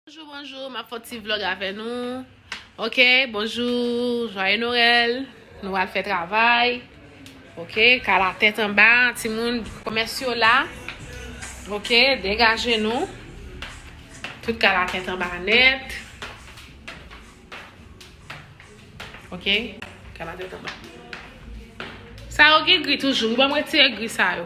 Bonjou bonjou map fon ti vlog avè nou ok bonjou jwaye norèl nou al fè travay ok ka la tèt anba ti moun komès yo la ok degaje nou tout ka la tèt anba nèt ok ka la tèt anba sa yo gen gri toujou ou ban mwen tire gri sa yo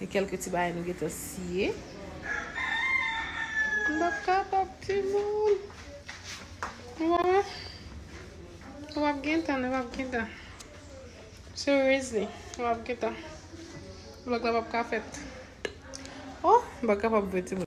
E kelke ti bagay nou gentan siye. M pap kapab timoun. Ou wè wè. Ou pap gentan nou pap gentan. Seriously. Ou pap gentan. Vlog la pap ka fèt. Oh m pa kapab vre timoun.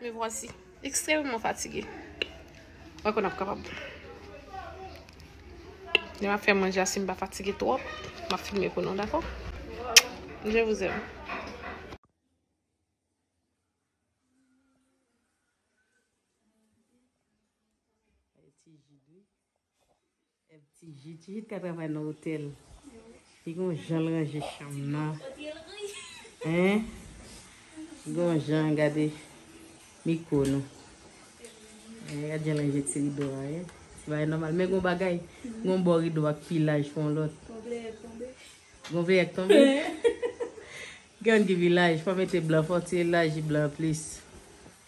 Me voici extremement fatigué. Mwen konn ap kapab. Lè map fè manje a si m pa fatigué twòp, map filme pou nou dakò. Je vous aime. Tijit tijit ka travay nan otèl li gen yon janl ranje chanm nan hein li gen yon jan gade miko nou hein gad janl ranje ti rido a hein se bagay nòmal men gen yon bagay gen yon bò rido a ki pi laj ke yon lòt gen yon pleyè k tonbe gen yon pleyè k tonbe gen youn ki pi laj fò mete blan fò ti elaji blan an plis.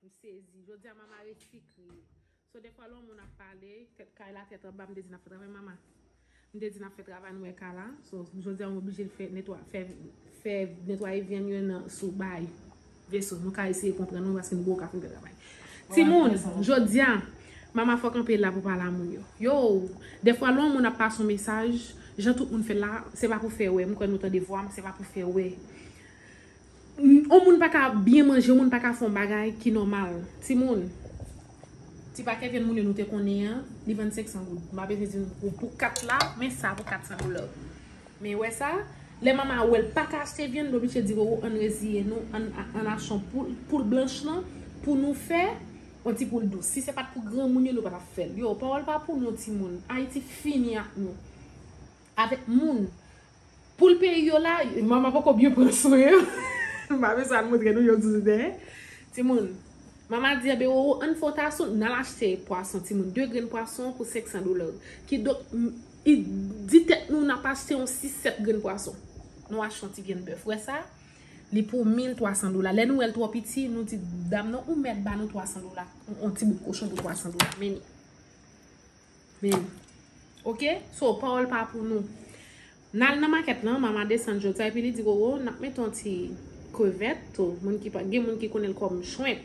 M sezi. Jodia mama resi kriye. So defwa lè yon moun ap pale. Tèt kay la tèt anba m te di nap fè travay mama. M te di nap fè travay nou wè kay la. So jodia mwen oblije fè netwa fè fè netwaye vyann yo nan sou bay veso. Nou ka eseye konprann mwen paske m gwo kap m fè travay. Timoun jodia mama fò kanpe la pou pale a moun yo. Yoo defwa lè yon moun ap pase yon mesaj jan tout moun fè la se pa pou fè wè m kwè nou tande vwa m se pa pou fè wè. Yon moun pa ka byen manje, yon moun pa ka fè yon bagay ki nòmal. Timoun, ti pakèt vyann moule nou te konnen an, li vann 500 goud. M pa bezwen di nou pou 4 la, men sa pou 400 dola. Men wè sa, lè Mama wè l pa ka achte vyann, l oblije di Roro ann reziye nou, ann achte yon poul, poul blanch lan pou nou fè yon ti poul dous. Si se pa t pou granmoun yo, nou pa t ap fè l. Yo, pawòl pa pou nou timoun. Ayiti fini ak nou. Avèk moun. Poul peyi yo la, mama poko byen pran swen yo. M pa bezwen al montre nou yo toujou dèyè. Timoun, mama di a Beroro ann fè yon tason, nan al achte pwason timoun. De grenn pwason pou 500 dola. Kidonk, di tèt nou nan ap achte yon 6, 7 grenn pwason. Nou achte yon ti vyann bèf. Wè sa? Li pou 1300 dola. Lè nou wè l twò piti, nou di dam nan ou mèt ba nou 300 dola. Yon ti bout kochon pou 300 dola. Meni. Men ok so pawol pa pou nou. Nal nan maket lan mama desann jodia epi li di roro nap mete yon ti krevet tou moun ki pa gen moun ki konnen kom shrimp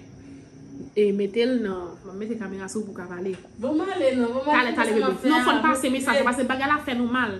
e metel nan map mete kamera sou pou ka pale. Bon male nan. Tale tale bebe. Non fon pase mesaj la pase bagay la fe nou mal.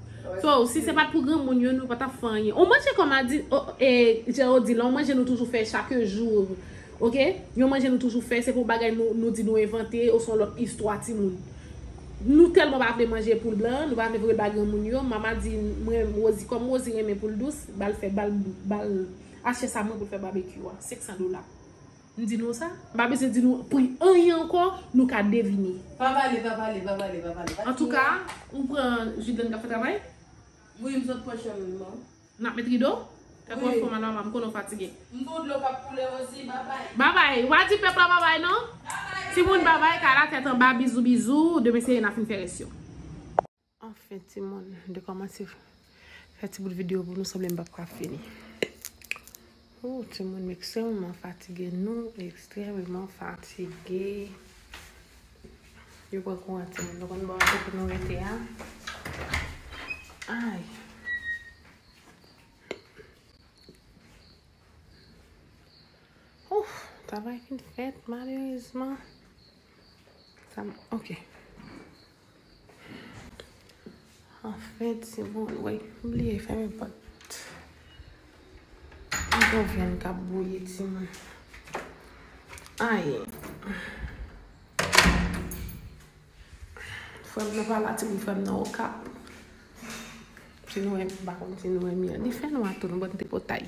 So, si se pat pou granmoun yo, nou pa tap fè anyen. Ou manje kòm a di, e, jan ou di la, ou manje nou toujou fè chake jou. Ok? Yon manje nou toujou fè, se pou bagay nou di nou envante, ou son lòt istwa ti moun. Nou tèlman pa vle manje poul blan, nou pa vle voye l ba granmoun yo, Mama di, mwen, Rosie, kòm Rosie renmen poul dous, bal fè, bal, bal, achte sa moun pou l fè babekyou a. 500 dola. M di nou sa? M pa bezwen di nou pri anyen ankò, nou ka devine. Pa pale, pa pale, pa pale, pa pale. Antouka, ou pran Jidlèn k ap fè travay? Wi, m sot pran chanm m nan. N ap met rido? Tèt ou ap fè w mal mama, m konnen w fatige. M gen yon dlo k ap koule osi, babay. Babay! W pa di pèp la babay non! Babay! Timoun babay, kay la tèt anba, bizou bizou, demen se ye n ap fin fè rès yo. Anfen timoun, m te kòmanse fè ti bout videyo pou nou sanble m pap ka fini. Ooh timoun m ekstrèmeman fatige, nou ekstrèmeman fatige. Yo pran kouran timoun, nou konn bò kote nou rete a. Ay! Ouff! Travay fin fèt malerezman. Sa m, ok. Anfen ti moun woy. M bliye fèmen pòt. Yon bon vyann k ap bouyi ti moun. Anyen. Frè m nan pa la ti moun. Frè m nan Okap. Ti nou wè m pa konn si nou wè m. Li fè nwa tou nou bòn tripotay.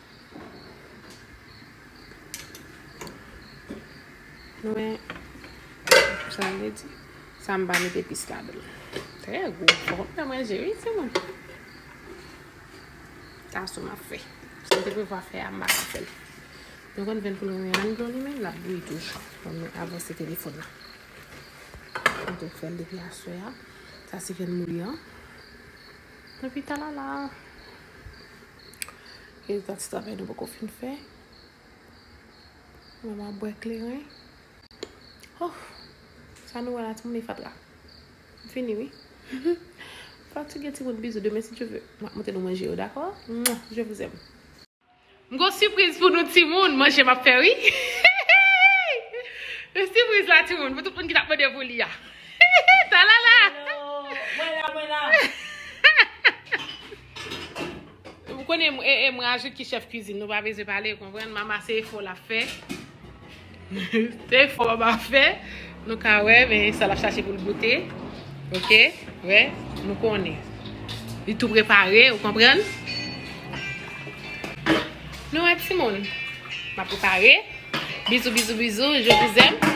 Nou wè sa m vle di. Sa m pa mete pis la dan. Trè gou. Bon m nan manje wi ti moun. Sa sou m ap fè. Sa m te pou va fè a m pa ka fè l. Nou konn ven koulè mwen an dlo li men l ap bouyi toujou. Bon m avan se telefon nan. M te fè l depi aswe a. Sa se ven m li an. Epi talala. E zan ti travay nou poko fin fè. Mwen ap bwè kleren. Hoh! Sa nou wè la timoun e fatra. M fini wi. Fatige timoun bizou demen si Dye ve. M ap monte nou manje yo dakò. Mwah! Je vous aime. M gon sipriz pou nou timoun. Manje m ap fè wi. Hihihi! Sipriz la timoun pou tout moun ki t ap mande pou li a. Hihihi! Talala! Hello! Mwen la mwen la! Ou konnen m, e, e, m rajout ki chèf kizin. Nou pa bezwen pale, ou konprann. Mama se efò l ap fè. Se efò mama ap fè. Nou ka wè, men sa l ap chache pou l goute. Ok? Wè? Nou konnen. Li tou prepare, ou konprann. Nou wè ti moun. M ap prepare. Bizou, bizou, bizou. Je vous aime.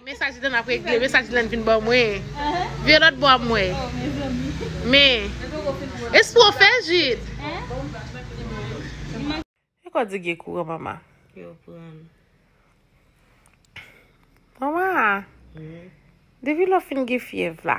Men sa Dylan ap regle, men sa Dylan vin ban mwen. Vire lòt bò a pou mwen. Men. E sa ou fè, Jid? E kò di gen kouran, Mama? Yo pran. Mama, depi lè ou fin gen fyèv la.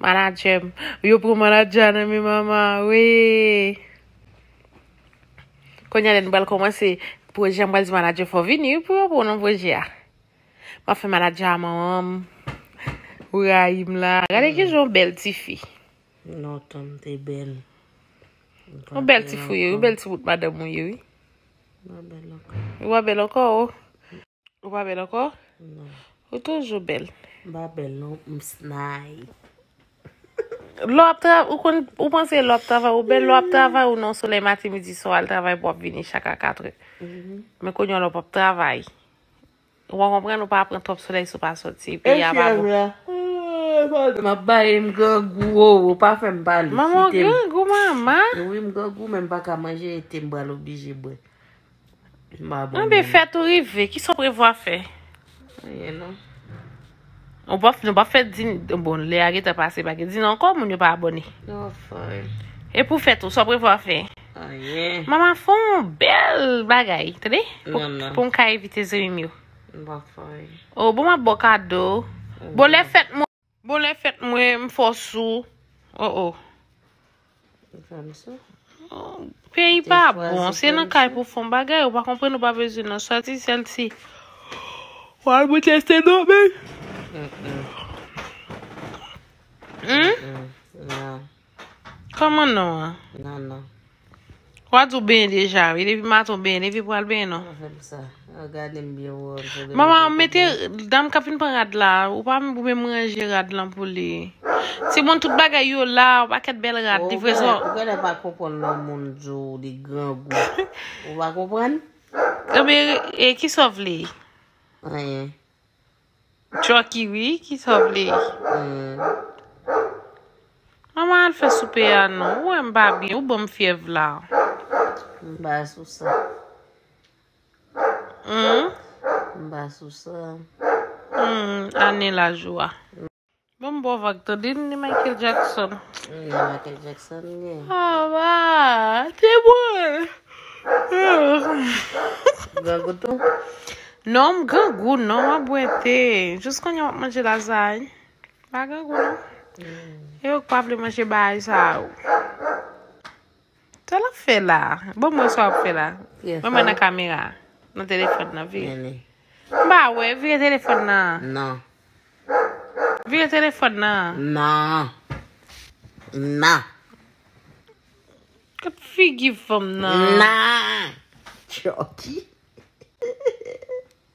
Manager m. Yo pran manager nan men mama wi. Konya lè nou pral komanse proje a m pral di manager fò vini wi pou yo pran w nan proje a. Map fè manager a manman m. Ou rayi m la. Gade kijan w bèl tifi. Non tan m te bèl. Ou bèl tifi ou ye wi. Ou bèl ti bout madanm ou ye wi. Ou pa bèl ankò. Ou pa bèl ankò. Ou pa bèl ankò? Non. Ou toujou bèl. M pa bèl non, m snay. Lò ap travay, ou kon, ou panse lò ap travay, ou bèl lò ap travay ou non solèy mati midi swa al travay pou ap vini chak a 4 è. Mm-hmm. Men konyon lò pap travay. Ou pa konprann ou pa pran twòp solèy sou pa soti. Pi ya pa bon. M ap baye m grangou ou, ou pa fè m pale. Maman grangou mama. Ou wi m grangou men m pa ka manje ete m bal oblije bwe. Mwen be fè tou rive. Kisa w prevwa fè? Anyen non. Ou pa nou pa fè di bon lè a geta pase pa gen di non ankò moun yo pa abone. Yo fòy. E pou fè tou sa w prevwa fè? Anyen. Mama fè yon bèl bagay tande. Non non. Pou m ka evite zanmi m yo. Mwen pa fòy. O bon map ba w kado. Bon lè fèt mwen. Bon lè fèt mwen m fò sou oh oh. Ou fèm sou. Peyi pa bon se nan kay pou fon bagay ou pa konprann ou pa bezwen nan soti sèl si wal pou tè se non men. Humm. Humm. Nan. Kòman non an? Non non. Wa di w benyen deja wi. Depi maten w benyen. Depi pral benyen non. Mwen fèm sa. Mwen gade m byen wè w. Mama mete dam kap vin pran rad la. Ou pa m pou menm ranje rad lan pou li. Timoun tout bagay yo la. Yon pakèt bèl rad. Ou genlè pa konprann lò moun di w li grangou. Ou pa konprann? Ebyen e kisa w vle? Anyen. Chucky wi ki sa w vle. Mama al fè soupe a non. Ou wè m pa byen, ou ban m fyèv la. M pa sou sa. M pa sou sa. Ane laj ou a. Banm bon vag tande n ni Michael Jackson. Ni Michael Jackson ni. Ah wa, te mwen. Grangou tou? Non m grangou non, mwen bwè te. Jous kounye wap manje lazay. Pa grangou non. E yo k pa vle manje bagay sa yo. Sa lap fè la. Bon mwen sa wap fè la. Mwen mwen nan kamera. Nan telefon nan vire. Mba wè vire telefon nan. Nan. Vire telefon nan. Nan. Nan. Kot figi fanm nan. Nan. Chòki.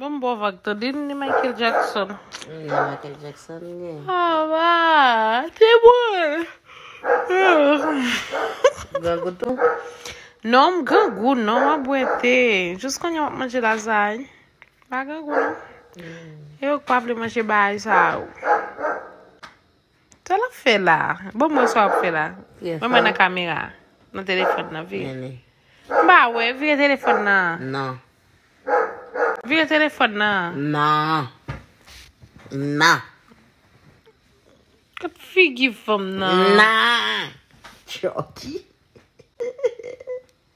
Banm bon vag tande n ni Michael Jackson. Ni Michael Jackson ni. Ah wa, te bon. Grangou tou? Non m grangou non, mwen bwè te. Jous kounye wap manje lazay. Pa grangou non. E yo k pa vle manje bagay sa yo. Sa lap fè la. Bon mwen sa wap fè la. Mwen mwen nan kamera. Nan telefon nan vire. Mba wè vire telefon nan. Nan. Vire telefon nan. Nan. Nan. Kot figi fanm nan. Nan. Chòki.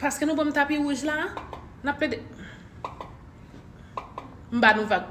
Paske nou banm tapi wouj la, nap plede. M ba nou vag.